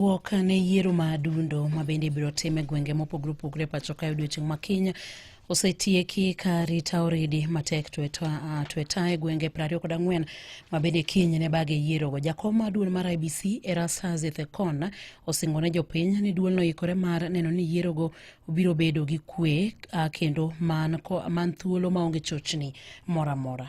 Wuok ne yiero ma adundo ma bende ibiro tim e gwenge mopogore opogore pacho ka odiechieng' ma kiny osetieki ka rita oridi matek tweta e gwenge prariyo kod ang'wen mabende kiny ne bage yierogo jakom mar duol mar ibc erastas ethekon osingo ne jopiny ni duolno ikore mar neno ni yierogo biro bedo gi kwe kendo man thuolo maonge chochni moro amora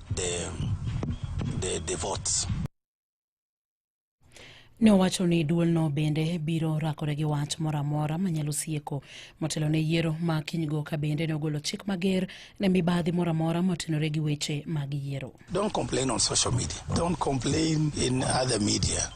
the, the, the votes. Ne owacho ni duolno bende biro rakore gi wach moro amora manyalo sieko motelo ne yiero ma kinygo ka bende ne ogolo chik mager ne mibadhi moro amora motenore gi weche mag yiero. Don't complain on social media. Don't complain in other media.